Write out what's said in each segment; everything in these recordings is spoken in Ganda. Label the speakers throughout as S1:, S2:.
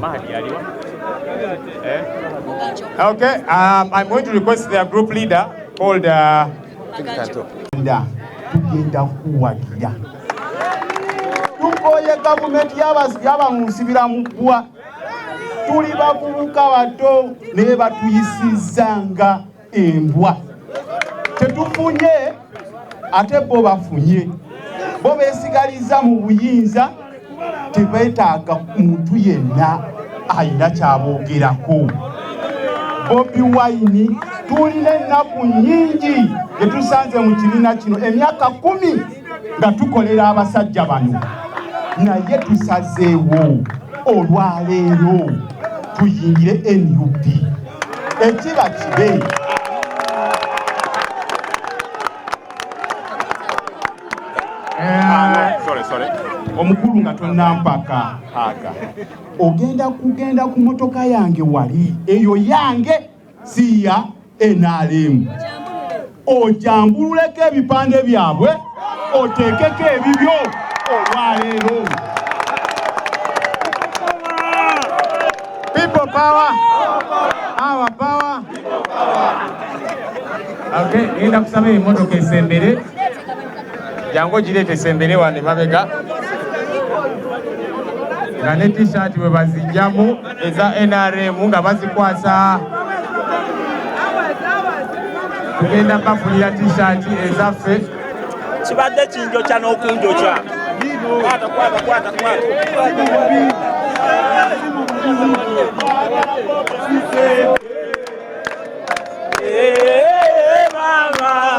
S1: Mahdi aliwa. Eh? Okay, um, I'm going to request their group leader called uh,
S2: tugenda kuwagira tukooye gavumenti yaba mu nsibira mu ggwa tuli bavubuka bato naye batuyisizza nga embwa tetufunye ate bo bafunye bo besigaliza mu buyinza tebetaaga muntu yenna alina kyabogerako bobi wine tulina ennaku nyingi etusanze mu kibiina kino emyaka kumi nga tukolera abasajja bano naye tusazeewo olwaleero tuyingire nup ekiba kibe
S1: omukulu nga
S2: tonampaka aga ogenda kugenda ku motoka yange wali eyo yange si ya NRM. Ojambululeko ebipande byabwe oteekeko ebibyo olwaleero.
S1: People power. Our power. Okay, ngenda kusaba emotoka esembere jangu ogireeta esembere wano emabega nga ne t-shirt bwe bazijjamu eza nrm nga bazikwasa tugenda bafunira tishaati ezaffe kibadde
S3: kinjokya n'okunjokya Hey, mama.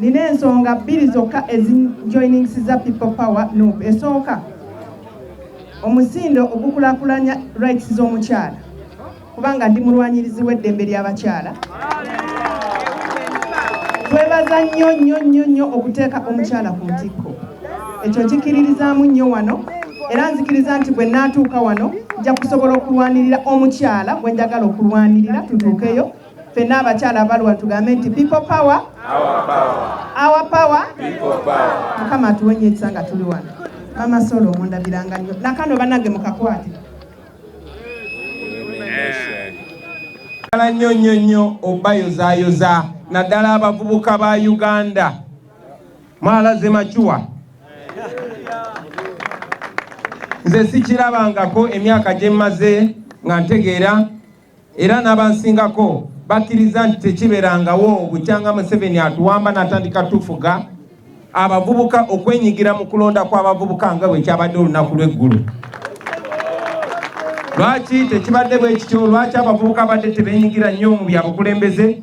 S4: Nina ensonga bbiri zokka ezinjoyiningsiza People Power Nup. Esooka, omusindo ogukulakulanya rights z'omukyala kubanga ndi mulwanyirizi w'eddembe ly'abakyala. Twebaza nnyo nnyo nnyo nnyo okuteeka omukyala ku ntikko. Ekyo nkikiririzaamu nnyo wano era nzikiriza nti bwe naatuuka wano nja kusobola okulwanirira omukyala gwe njagala okulwanirira tutuukeyo. fenna abakyala abalwa tugambe nti people power our power mukama atuwenye ekisa nga tuli wano mama solo omundabiranga nyo nakano banange mukakwate
S1: ala nnyo nnyo nnyo obayozayoza naddala abavubuka ba uganda mwalaze macuwa nze sikirabangako emyaka gyemmaze nga ntegeera era n'abansingako bakkiriza nti tekiberangawo bukyanga Museveni atuwamba n'atandika tufuga abavubuka okwenyigira mu kulonda kw'abavubuka nga bwe kyabadde olunaku lw'eggulo. Lwaki tekibadde bwe kityo? Lwaki abavubuka abadde tebeenyigira nnyo mu bya bukulembeze?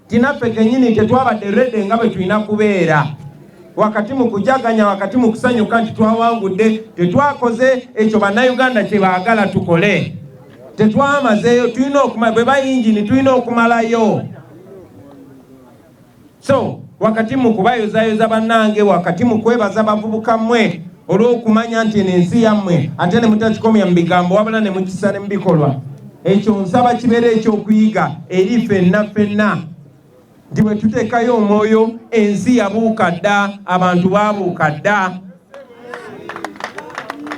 S1: tinaffe kenyini tetwabadde rede nga bwe tulina kubeera wakati mu kujaganya wakati mu kusanyuka nti twawangudde tetwakoze ekyo bannayuganda kye baagala tukole tetwamazeeyo tulina okumala bwe bayingini tulina okumalayo so wakati mu kubayozayoza bannange wakati mu kwebaza bavubuka mmwe olw'okumanya nti eno ensi yammwe ate ne mutakikomya mu bigambo wabula ne mukisa ne mu bikolwa ekyo nsaba kibeera ekyokuyiga eri fenna fenna nti bwe tuteekayo omwoyo ensi yabuuka dda abantu baabuuka dda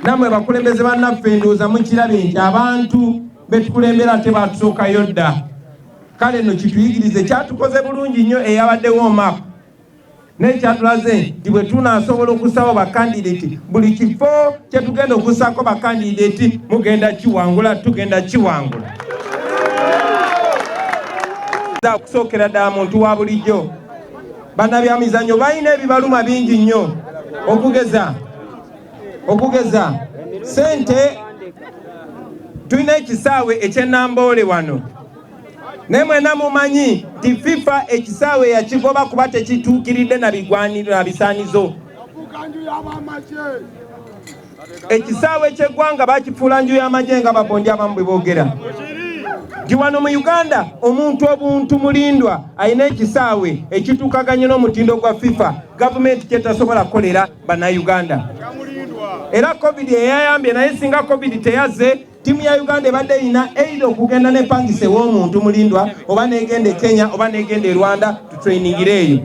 S1: nammwe bakulembeze bannaffe ndowooza mukirabye nti abantu betukulembera ate baatusookayo dda kale no kituyigirize kyatukoze bulungi nnyo eyabaddewo omaapu naye kyatulaze nti bwe tunaasobola okusaba bakandideti buli kifo kye tugenda okusaako bakandideti mugenda kiwangula tugenda kiwangula okusookera ddala muntu wa bulijjo bannabyamizannyo balina ebibaluma bingi nnyo okugeza okugeza sente tulina ekisaawe ekyenamboole wano naye mwena mumanyi nti fifa ekisaawe yakigoba kuba tekituukiridde na bigwaniro na bisaanizo ekisaawe ky'eggwanga bakifuula nju y'amagye nga babondi abamu bwe boogera nti wano mu uganda omuntu obuntu mulindwa alina ekisaawe ekituukaganye n'omutindo gwa fifa gavumenti kyetasobola kukolera bannayuganda era covid eyayambye naye singa covid teyazze Ttiimu ya Uganda ebadde erina eitha okugenda n'epangisa ew'omuntu Mulindwa oba n'egenda e Kenya oba n'egenda e Rwanda tutrainingire eyo.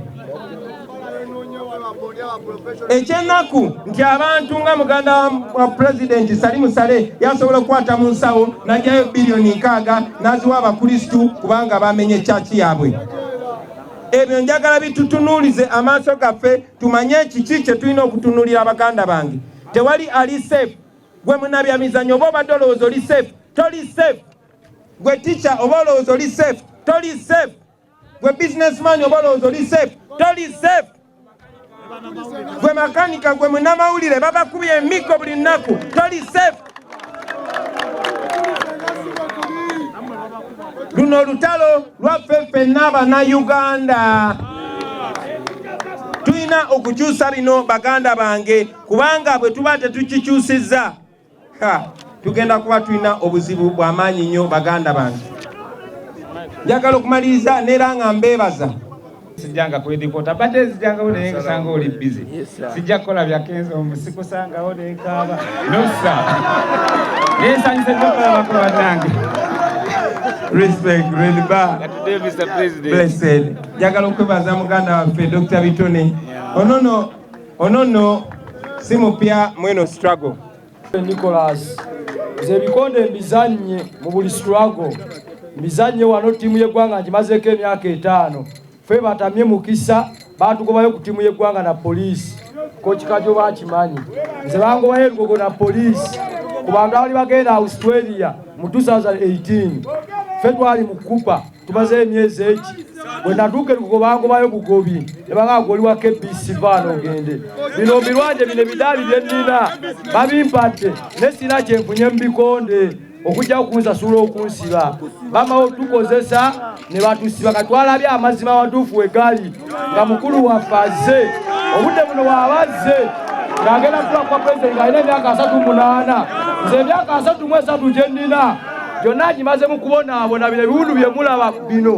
S1: Ekyennaku nti abantu nga muganda wa pulezidenti Salimu Sale yasobola okukwata mu nsawo n'ajjayo biliyoni nkaaga n'aziwa Abakristu kubanga bamenye kyaki yaabwe. ebyo njagala bitutunuulize amaaso gaffe tumanye kiki kye tulina okutunuulira baganda bange tewali ali safe gwe munabyamizanyo oba obadde olowooza oli safe toli safe gwe teacher oba olowooza oli safe toli safe gwe businessman oba olowooza oli safe toli safe gwe makanika gwe munamawulire babakubi emiggo buli nnaku toli safe luno olutalo lwaffe ffenna bana uganda tulina okukyusa bino baganda bange kubanga bwe tuba tetukikyusizza tugenda kuba tulina obuzibu bw'amaanyi nnyo baganda bange njagala okumaliriza neera nga mbeebaza sijjanga
S5: kwedikota bate ezijjangawo naye nkusanga oli bizi sijja kukola byakenza omu sikusangawo nenkaaba nosa naye nsanyuse nyokolabako banange
S1: respect really bad
S5: blessed njagala
S1: okwebaza muganda waffe dr bitone onono Ono nno si mupya mweno struggle. Nicholas
S6: nze ebikonde mbizannye mu buli struggle mbizannye wano ttiimu y'eggwanga ngimazeeko emyaka etaano fe batamye mukisa baatugobayo ku ttiimu y'eggwanga na poliisi kokikajo bakimanyi nze bangobayo ebigogo na poliisi ku bantu abali bagenda australia mu 2018 fe twali mu kupa tumaze emyezi eki bwe natuuka ekugobangobayo bugobi nebangaaga oli wa kbc vaana ogende bino mbirwanje bino ebidaali bye nnina babimpadde ne sina kyenfunye mu bikonde okujja okunsasula okunsiba bamawo tukozesa ne batusiba katwalabye amazima amatuufu wegali nga mukulu waffe azze obudde buno waaba azze ng'agenda kuba kwa pulezidenti ng'alina emyaka asatu munaana nze emyaka asatu mu esatu gye nnina gyonna agimaze mu kubonaabona bino ebiwundu bye mulaba bino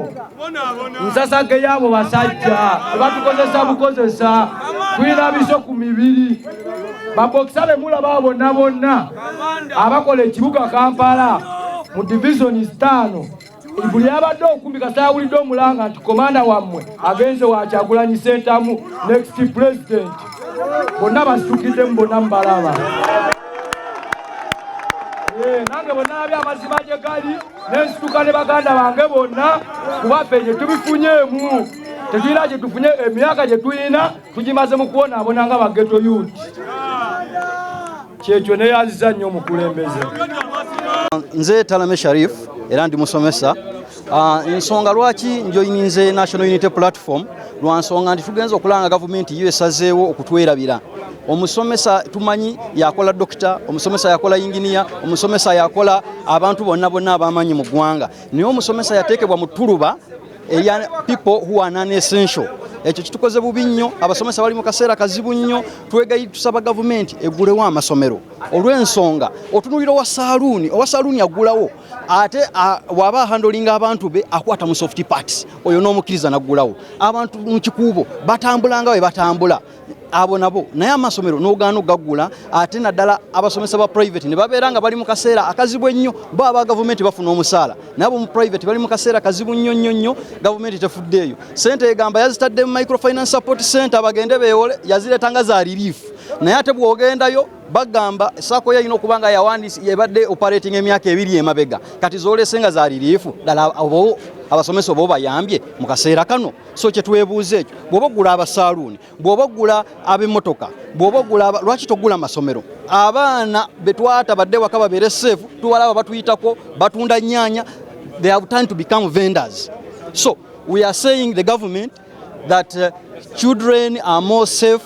S6: nsasage yaabo basajja tebatukozesa bukozesa tulina biso ku mibiri babokisa be mulaba bonna bonna abakola ekibuga kampala mu divizoni zitaano buli abadde okumbi kasayawulidde omulanga nti komanda wammwe agenze wakyagulanyi sentamu next president bonna basitukiddemu bonna mubalaba eh, nange bwenalabye amazima gye gali nensituka ne baganda bange bonna kubaffe gye tubifunyeemu tetulina gye tufunye emyaka gye tulina tugimaze mu kubonaabona nga bageto yut kyekyo neyaziza nnyo omukulembeze
S7: nze talame sharif era ndi musomesa ah, ensonga lwaki njoyininze national unity platform lwa nsonga nti tugenza okulanga gavumenti yo esazeewo okutwerabira omusomesa tumanyi yakola dokita omusomesa yakola inginiya omusomesa yakola abantu bonna bonna abamanyi mu ggwanga naye omusomesa yateekebwa mu tuluba eya people who are non essential ekyo kitukoze bubi nnyo abasomesa bali mu kaseera kazibu nnyo twegayi tusaba gavumenti egulewo amasomero olw'ensonga otunulira owa saluuni owa saluuni agulawo ate waba ahandolinga abantu be akwata mu soft parts oyo n'omukkiriza naggulawo abantu mu kikuubo batambulanga we batambula abo nabo naye amasomero nogaana ogagula ate naddala abasomesa ba private ne babeera nga bali mu kaseera akazibu ennyo bo aba gavumenti bafuna omusaala naye abo mu private bali mu kaseera kazibu nnyo nnyo nnyo gavumenti tefuddeeyo sente egamba yazitadde mu microfinance support center bagende beewole yazireeta nga za relief naye ate bwogendayo bagamba sako yalina okuba nga yawandisi ebadde operating emyaka ebiri emabega kati zolese nga za relief ddala obo abasomesa oba obayambye mu kaseera kano so kyetwebuuza ekyo bwoba ogula abasaaluuni bwoba ogula ab'emmotoka bwoba ogula lwaki togula masomero abaana betwata badde waka babeere safe tubalaba batuyitako batunda nyanya they have time to become vendors so we are saying the government that uh, children are more safe